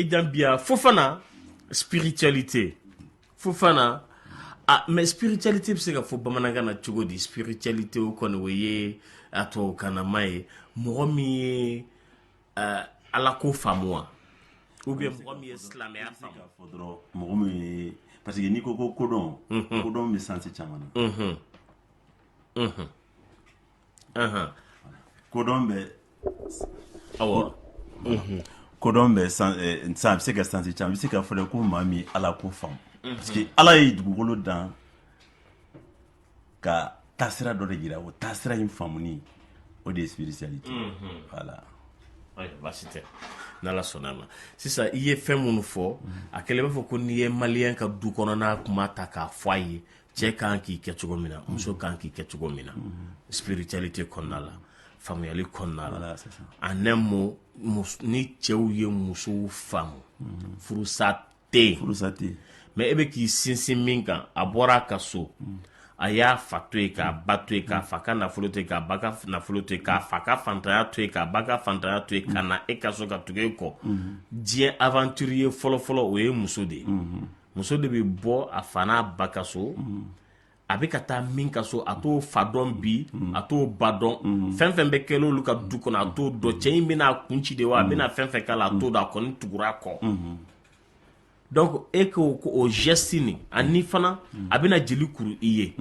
Gambia Fofana spiritualité Fofana ah mais spiritualité bɛ se ka fɔ bamanankan na cogo di spiritualité o kɔni o ye a tubabukanama ye mɔgɔ min ye uh, ala ko faamu wa ou bien mɔgɔ min ye silamɛya faamu k'a fɔ dɔrɔn mɔgɔ min ye parce que n'i ko ko kodɔn kodɔn bɛ sansi caman na kodɔn bɛ awɔ kodɔn bɛ san a bɛ se ka sansi caman bɛ se ka fɔ ko maa min ala ko faamu parce que ala ye dugukolo dan ka taasira dɔ de jira o taasira in faamuni o de ye spiritualité voilà baasi tɛ n' sɔnna a ma sisan i ye fɛn minnu fɔ a kɛlen b'a fɔ ko n'i ye maliyɛn ka du kɔnɔna kuma ta k'a fɔ a ye cɛ kan k'i kɛ cogo min na muso kan k'i kɛ cogo min na spiritualité kɔnɔna la faamuyali kɔnɔna la en un mot ni cɛw ye musow faamu furusa tɛ yen furusa tɛ yen mais e bɛ k'i sinsin min kan a bɔra a ka so a y'a fa to yen k'a ba to yen k'a fa ka nafolo to yen k'a ba ka nafolo to yen k'a fa ka fantanya to yen k'a ba ka fantanya to yen ka na e ka so ka tugu e kɔ diɲɛ aventurier fɔlɔfɔlɔ o ye muso de ye muso de bɛ bɔ a fa n'a ba ka so a bɛ ka taa min ka so a t'o fa dɔn bi a t'o ba dɔn fɛn fɛn bɛ kɛ olu ka du kɔnɔ a t'o dɔn cɛ in bɛna a kun ci de wa a bɛna fɛn fɛn k'a la a t'o dɔn a kɔni tugura a kɔ donc e ko k'o geste nin ani fana a bɛna jeli kuru i ye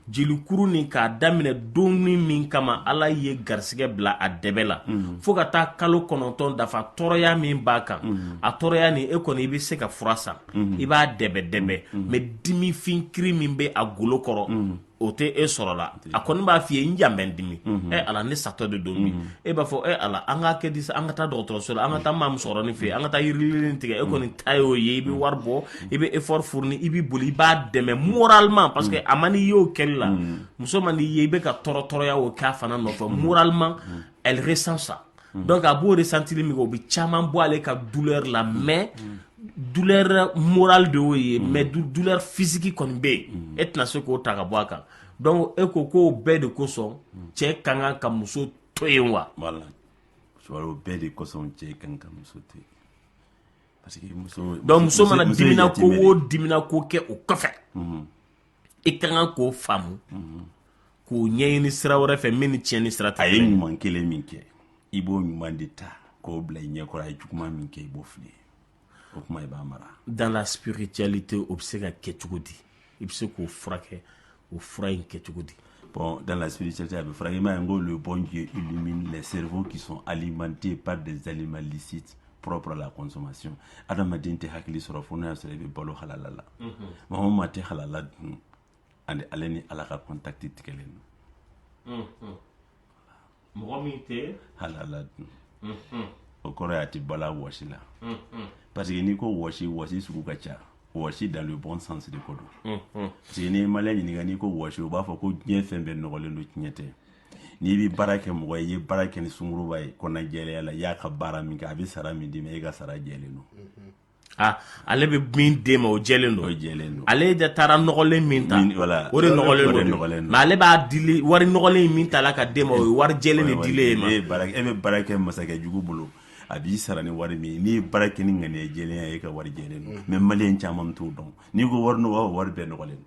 jelikuru nin k'a daminɛ doni min kama ala ye garisɛgɛ bila a dɛbɛ la mhm. fo ka taa kalo kɔnɔntɔn dafa tɔɔrɔya min b'a kan mhm. a tɔɔrɔya nin e kɔni i bɛ se ka fura san mhm. i b'a dɛbɛ dɛbɛ mais dimifin kiri min bɛ a golo kɔrɔ o tɛ e sɔrɔ la a kɔni b'a f'i ye n yan bɛ n dimi e ala ne satɔ de don bi e b'a fɔ e ala an ka kɛ di an ka taa dɔgɔtɔrɔso la an ka taa maa musokɔrɔnin fɛ an ka taa yiri lili nin tigɛ e kɔni ta y'o ye i bɛ wari bɔ i bɛ effort fourni i b'i boli i b'a dɛmɛ moralement parce que a man di i ye o kɛli la muso man di i ye i bɛ ka tɔɔrɔ tɔɔrɔya o k'a fana nɔfɛ moralement elle ressent ça donc a b'o ressentili min kɛ o bɛ caman bɔ ale ka douleur la mais douleur morale de y'o ye mais douleur physique kɔni bɛ yen e tɛna se k'o ta ka bɔ a kan donc e ko k'o bɛɛ de kosɔn cɛ ka kan ka muso to yen wa? Voilà. O bɛɛ de kosɔn cɛ ka kan ka muso to yen. donc muso mana dimina ko o dimina ko kɛ o kɔfɛ i ka kan k'o faamu k'o ɲɛɲini sira wɛrɛ fɛ min ni tiɲɛni sira tɛ a ye ɲuman kelen min kɛ i b'o ɲuman de ta k'o bila i ɲɛkɔrɔ a ye juguman min kɛ i b'o fili o kuma i b'a mara dans la spiritualité o bɛ se ka kɛ cogo di i bɛ se k'o furakɛ o fura in kɛ cogo di bon dans la spiritualité a bɛ furakɛ i m'a ye n ko le bon Dieu illumine les cerveaux qui sont alimentés par des aliments licites propres à la consommation adamaden tɛ hakili sɔrɔ fo n'a y'a sɔrɔ i bɛ balo halala la maa o maa tɛ halala dun ani ale ni ala ka contact tigɛlen don mɔgɔ min tɛ halala dun mhm. o kɔrɔ y'a ti bal'a wɔsi la mhm. parce que n'i ko wɔsi wɔsi sugu ka ca wɔsi dans le bon sens de ko don mhm. parce que n'i ye maliyɛn ɲininka n'i ko wɔsi o b'a fɔ ko diɲɛ fɛn bɛɛ nɔgɔlen don tiɲɛ tɛ n'i bɛ baara kɛ mɔgɔ ye i ye baara kɛ ni sungurunba ye kɔnɔnajɛlenya la i y'a ka baara min kɛ a bɛ sara min d'i ma e ka sara jɛlen don aa ale bɛ min d'e ma o jɛlen don, o jɛlen don, ale de taara nɔgɔlen min ta, voilà o de nɔgɔlen don, o de nɔgɔlen don, mais ale b'a dili wari nɔgɔlen min ta la ka d'e ma o ye wari jɛlen de dilen e ma, e bɛ baara kɛ masakɛ jugu bolo a b'i sara ni wari min ye n'i ye baara kɛ ni ŋaniya jɛlenya ye e ka wari jɛlen don mais maliyɛn caman t'o dɔn n'i ko wari nɔgɔ wari bɛɛ nɔgɔlen don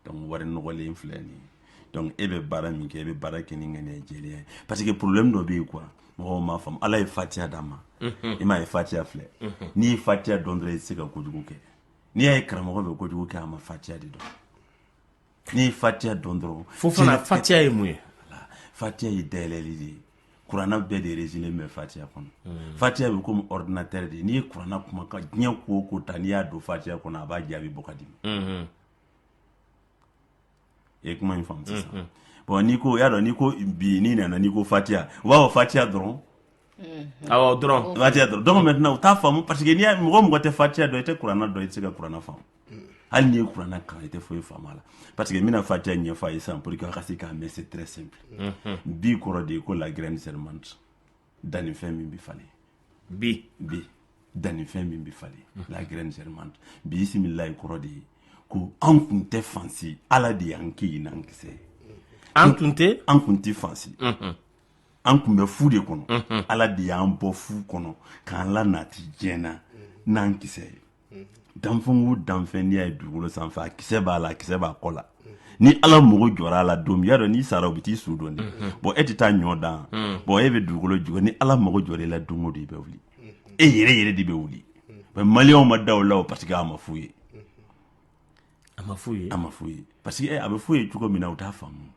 donc wari nɔgɔlen filɛ nin ye donc e bɛ baara min kɛ e bɛ baara kɛ ni ŋaniya jɛlenya ye parce que problème dɔ bɛ yen quoi mɔgɔw m'a faamu ala ye fatiya d'a ma mhm. i m'a ye fatiya filɛ mhm. n'i ye fatiya dɔn dɔrɔn i tɛ se ka kojugu kɛ n'i y'a ye karamɔgɔ bɛ kojugu kɛ a ma fatiya de dɔn n'i ye fatiya dɔn dɔrɔn fo fana fatiya ye mun ye fatiya ye dayɛlɛli de ye kuranɛ bɛɛ de résumé bɛ fatiya kɔnɔ hmm. fatiya bɛ komi ordinateur de n'i ye kuranɛ kuma ka diɲɛ ko o ko ta n'i y'a don fatiya kɔnɔ a b'a jaabi bɔ ka d'i ma hmm. i ye kuma in faamu sisan hmm. bon n'i ko y'a dɔn n'i ko bi n'i nana n'i ko fatiya u b'a fɔ fatiya dɔrɔn awɔ dɔrɔn fatiya dɔrɔn donc maintenant u t'a faamu parce que n'i y'a mɔgɔ mɔgɔ tɛ fatiya dɔn i tɛ kuranɛ dɔn i tɛ se ka kuranɛ faamu hali n'i ye kuranna kalan i tɛ foyi faamu a la parce que n bɛna fatiya ɲɛfɔ a ye sisan pour que a ka se k'a mɛn c'est très simple bi kɔrɔ de ye ko la graine germante dannifɛn min bɛ falen bi bi dannifɛn min bɛ falen la graine germante bi bisimilayi kɔrɔ de ye ko an kun tɛ fansi ala de y'an kɛ yen n'an kisɛ ye an tun tɛ an kun tɛ fansi an kun bɛ fu de kɔnɔ ala de y'an bɔ fu kɔnɔ k'an lanati diɲɛ na n'an kisɛ ye danfɛn o danfɛn n'i y'a ye dugukolo sanfɛ a kisɛ b'a la a kisɛ b'a kɔ la ni ala mago jɔra a la don min y'a dɔn n'i sara u bɛ t'i su don de bon e tɛ taa ɲɔ dan bon e bɛ dugukolo jukɔrɔ ni ala mago jɔra i la don o don i bɛ wuli e yɛrɛ yɛrɛ de bɛ wuli mais maliyɛnw ma da o la o parce que a ma f'u ye a ma f'u ye a ma f'u ye parce que a bɛ f'u ye cogo min na u t'a faamu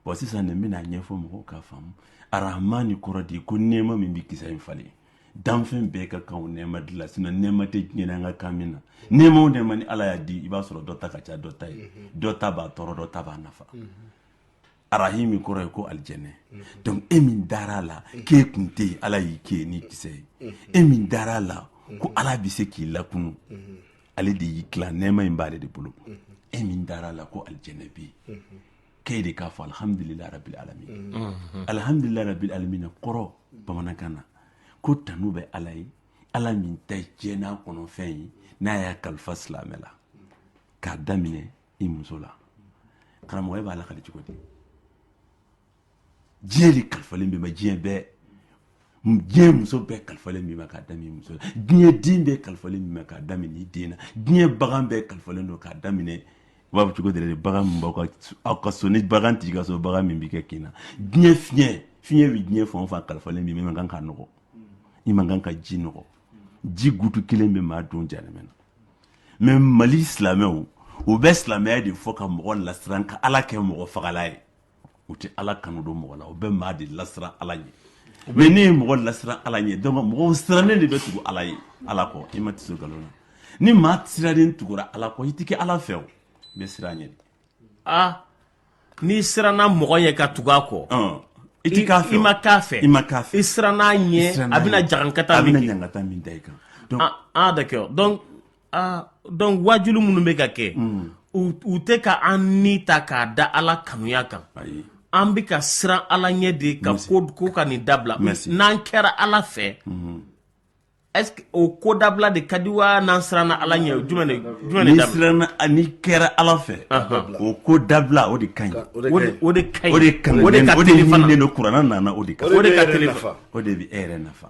bon sisan ne bɛn'a ɲɛfɔ mɔgɔw k'a faamu arahmani kɔrɔ de ko nɛɛma min bɛ kisɛ in falen danfɛn bɛɛ ka kan o nɛɛma de la sinon nɛɛma tɛ diɲɛ na an ka kan min na nɛɛma o nɛɛma ni ala y'a di i b'a sɔrɔ dɔ ta ka ca dɔ ta ye dɔ ta b'a tɔɔrɔ dɔ ta b'a nafa arahimi kɔrɔ ye ko alijɛnɛ donc e min dara a la k'e kun tɛ yen ala y'i kɛ yen ni kisɛ ye e min dara a la ko ala bɛ se k'i lakunu ale de y'i dilan nɛɛma in b'ale de bolo e min dara a la ko alijɛnɛ bɛ yen k'e de k'a fɔ alihamudulila rabil alamin alihamudulila rabil alamina kɔrɔ bamanankan na ko tanu bɛ ala ye ala min ta ye diɲɛ n'a kɔnɔfɛn ye n'a y'a kalifa silamɛ la k'a daminɛ i muso la karamɔgɔ e b'a lakali cogo di diɲɛ de kalifalen b'i ma diɲɛ bɛɛ diɲɛ muso bɛɛ kalifalen b'i ma k'a daminɛ muso la diɲɛ den bɛɛ kalifalen b'i ma k'a daminɛ i den na diɲɛ bagan bɛɛ kalifalen don k'a daminɛ u b'a fɔ cogo di bagan min b'aw ka aw ka so ni bagan t'i ka so bagan min b'i ka kin na diɲɛ fiɲɛ fiɲɛ bɛ diɲɛ fan o fan kalifalen b'i ma i man kan k'a nɔgɔ i man kan ka ji nɔgɔ ji gutu kelen bɛ maa don jahanama na mais mali silamɛw u bɛ silamɛya de fɔ ka mɔgɔ lasiran ka ala kɛ mɔgɔ fagala ye u tɛ ala kanu don mɔgɔ la u bɛ maa de lasiran ala ɲɛ mais n'i ye mɔgɔ lasiran ala ɲɛ donc mɔgɔ sirannen de bɛ tugu ala ye ala kɔ i ma tɛ nkalon na ni maa sirannen tugura ala kɔ i tɛ kɛ ala fɛ i bɛ siran a ɲɛ aa n'i siranna mɔgɔ ɲɛ ka tugu a kɔ i tɛ k'a fɛ i ma k'a fɛ i ma k'a fɛ i siranna a ɲɛ a bɛna jagankata a bɛna ɲangata min da i kan aa d'accord aa donc waajuli minnu bɛ ka kɛ mm. u tɛ ka an ni ta k'a da ala kanuya kan an bɛ ka siran ala ɲɛ de ka ko ko ka nin dabila n'an kɛra ala fɛ mm-hmm. est-ce que o ko dabila de ka di wa n'an siranna ala ɲɛ jumɛn de jumɛn de dabila n'i kɛra ala fɛ o ko dabila o de ka ɲi o de ka ɲi o de ka ɲi o de ka teli fana o de ɲininen don kuranɛ na o de ka o de ka teli o de bɛ e yɛrɛ nafa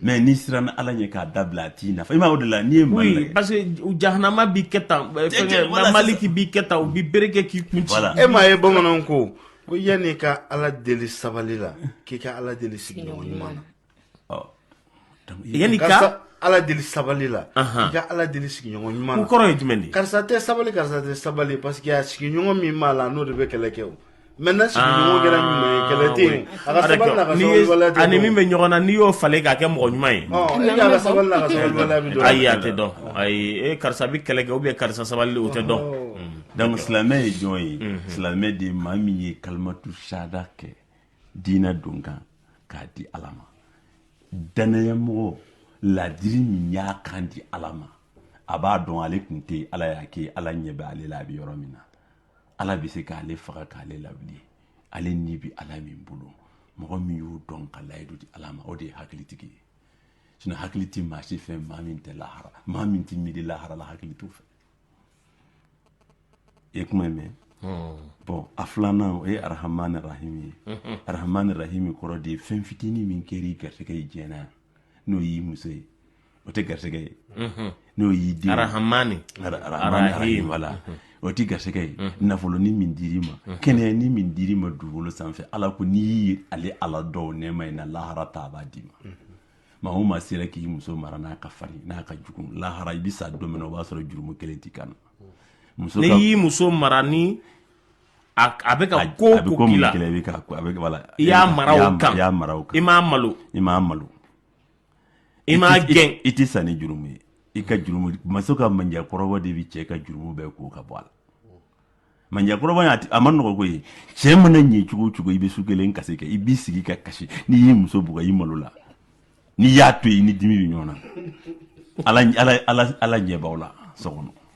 mais n'i siranna ala ɲɛ k'a dabila a t'i nafa i ma o de la n'i ye mali oui, parce que jahanama b'i kɛ tan maliki b'i kɛ tan u bɛ bere kɛ k'i kun ci e m'a ye bamananw ko ko yanni ka ala deli sabali la k'i ka ala deli sigiɲɔgɔn ɲuman na yanni ka ala deli sabali la i ka ala deli sigiɲɔgɔn ɲuman na o kɔrɔ ye jumɛn de ye karisa tɛ sabali karisa tɛ sabali parce que a sigiɲɔgɔn min b'a la n'o de bɛ kɛlɛ kɛ o Maintenant, sigiɲɔgɔn kɛra ɲuman ye, kɛlɛ tɛ yen. A ka sabali n'a ka N'i ye- sabalibaliya tɛ ani dɔn. min bɛ ɲɔgɔn na n'i y'o falen k'a kɛ mɔgɔ ɲuman ye Ɔ, e de y'a ka sabali n'a ka sabalibaliya bɛ dɔn. ayi a tɛ dɔn ayi e karisa bɛ kɛlɛ kɛ ou bien karisa sabali o tɛ dɔn donc silamɛ ye jɔn ye silamɛ de ye maa min ye kalimatu shahada kɛ diinɛ don kan k'a di ala ma danayamɔgɔ ladiri min y'a kan di ala ma a b'a dɔn ale tun tɛ yen, ala y'a kɛ ala ɲɛ bɛ ale la a bɛ yɔrɔ min na ala bɛ se k'ale faga k'ale lawuli ale ni bɛ ala min bolo mɔgɔ min y'o dɔn ka layidu di ala ma o de ye hakilitigi ye sinon hakili tɛ maa si fɛ maa min tɛ lahara maa min tɛ miiri lahara la hakili t'o fɛ i ye kuma in mɛn bon a filanan o ye arahamani rahimi ye arahamani rahimi kɔrɔ de ye fɛn fitinin min kɛra i garisɛgɛ ye diɲɛ na yan n'o y'i muso ye o tɛ garisɛgɛ ye n'o y'i den arahamani arahim wala o tɛ garisɛgɛ ye nafolonin min dir'i ma kɛnɛyanin min dir'i ma dugukolo sanfɛ ala ko n'i ye ale ala dɔn nɛɛma in na lahara ta a b'a d'i ma maa o maa sera k'i muso mara n'a ka farin n'a ka jugu lahara i bɛ sa don min na o b'a sɔrɔ jurumu kelen t'i kan muso n'i y'i muso mara ni a a bɛ ka ko a bɛ ko ko k'i min la kɛlɛ i bɛ ka a bɛ wala I y'a mara o kan. i y'a mara o kan I m'a malo i m'a malo I m'a gɛn i tɛ sa ni jurumu ye i ka jurumu muso ka manja kɔrɔbɔ de bɛ cɛ ka jurumu bɛɛ ko ka bɔ a la manja kɔrɔbɔ a man nɔgɔ koyi cɛ mana ɲɛ cogo o cogo i bɛ su kelen kasi kɛ i b'i sigi ka kasi n'i y'i muso bugɔ i malola n'i y'a to i ni dimi bɛ ɲɔgɔn na ala ɲɛ b'aw la so kɔnɔ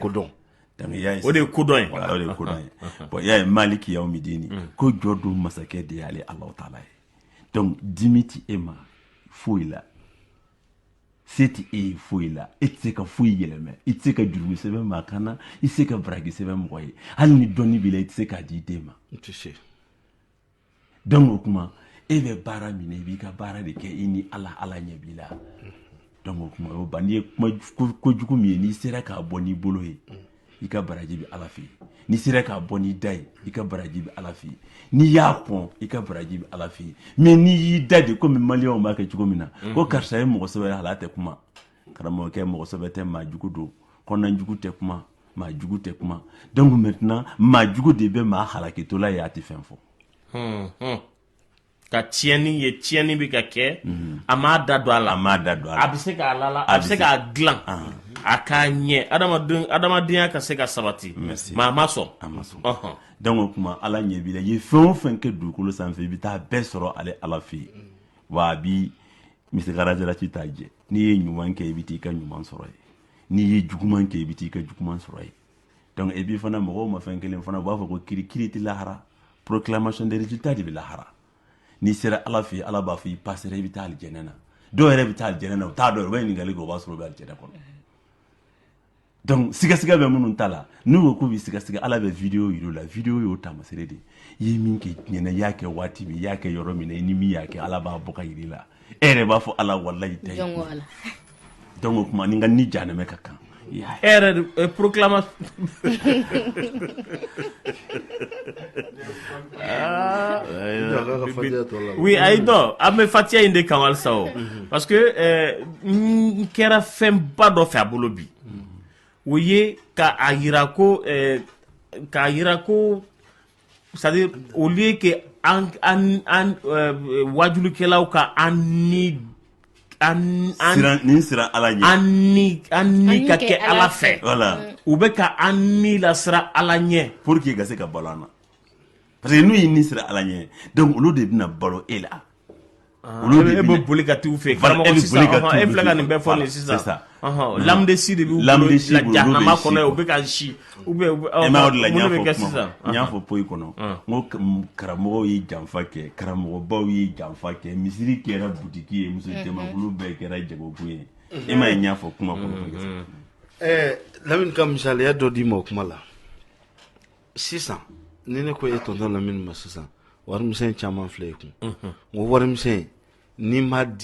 kodɔn o de ye kodɔn o de ye kodɔn ye bon y'a ye maliki yawmidini ko jɔ don masakɛ de y'ale ala taala ye donc dimi tɛ e ma foyi la se tɛ e ye foyi la e tɛ se ka foyi yɛlɛmɛ i tɛ se ka jurumu sɛbɛn maa kan na i tɛ se ka baraji sɛbɛn mɔgɔ ye hali ni dɔnni b'i la i tɛ se k'a d'i den ma donc o kuma e bɛ baara min na i b'i ka baara de kɛ i ni ala ala ɲɛ b'i la donc o kuma o ban n'i ye kojugu min ye n'i sera k'a bɔ n'i bolo ye i ka baraji bɛ ala fɛ n'i sera k'a bɔ n'i da ye i ka baraji bɛ ala fɛ n'i y'a kɔn i ka baraji bɛ ala fɛ mais n'i y'i da de komi maliyɛnw b'a kɛ cogo min na ko karisa ye mɔgɔ sɛbɛ ye hali a tɛ kuma karamɔgɔkɛ mɔgɔ sɛbɛ tɛ maa jugu don kɔnɔna jugu tɛ kuma maa jugu tɛ kuma donc maintenant maa jugu de bɛ maa halakitɔla ye a tɛ fɛn fɔ hmm, hmm. ka tiɲɛni ye tiɲɛni bɛ ka kɛ hmm. a m'a da don a la a m'a da don a la a bɛ se k'a lala a bɛ se k'a dilan ah. a k'a ɲɛ adamaden adamadenya ka se ka sabati mais a ma sɔn a ma sɔn ɔhɔn donc o tuma ala ɲɛ b'i la i ye fɛn o fɛn kɛ dugukolo sanfɛ i bɛ taa bɛɛ sɔrɔ ale ala fɛ yen wa a bi misikala jarati t'a jɛ n'i ye ɲuman kɛ i bɛ taa i ka ɲuman sɔrɔ yen n'i ye juguman kɛ i bɛ taa i ka juguman sɔrɔ yen donc epi fana mɔgɔw ma fɛn kelen faamu u b'a fɔ ko kiri kiri tɛ lahara proclamation des résultats de bɛ lahara n'i sera ala fɛ ala b'a fɔ i pasera i bɛ taa alijɛnɛ na dɔw yɛrɛ bɛ taa alijɛnɛ na u t'a dɔn u bɛ ɲininkali kɛ o b'a sɔrɔ u bɛ alijɛnɛ kɔnɔ donc sigasiga bɛ minnu ta la n'u ko k'u bɛ sigasiga ala bɛ video yir'u la video y'o taamasere de i ye min kɛ diɲɛ na i y'a kɛ waati min i y'a kɛ yɔrɔ min na i ni min y'a kɛ ala b'a bɔ k'a yir'i la e yɛrɛ b'a fɔ ala walayi tɛ donc o tuma ni ka ni jahanɛmɛ ka kan e yɛrɛ porokilama Oui a dɔn an bɛ fatiya in de kan halisa o parce que n kɛra fɛnba dɔ fɛ a bolo bi o ye ka a jira ko k'a jira ko c'est-à-dire au lieu que wajulikɛlaw ka an ni an ala an an ka kɛ ala fɛ u bɛ ka an ni lasiran ala ɲɛ pour que ka se ka balo an na parce que n'u y'i ni siran ala ɲɛ donc olu de bɛna balo e la ah, olu de e bɛ boli ka t'u fɛ karamɔgɔ e sisan e filɛ ka nin bɛɛ fɔ nin sisan lamudesi de b'u bolo la jahanama kɔnɔ u bɛ ka si ou bien e m'a de la n y'a fɔ kuma n y'a fɔ poyi kɔnɔ ah. n ko karamɔgɔw ye janfa kɛ karamɔgɔbaw ye janfa kɛ misiri kɛra butiki ye muso mhm. jamakulu bɛɛ kɛra jagokun ye e m'a ye n y'a fɔ kuma kɔnɔ mhm. lamini ka misaliya dɔ d'i ma o kuma la sisan ni ne ko e tɔntɔn lamini ma sisan warimisɛn caman filɛ i kun n ko warimisɛn n'i m'a di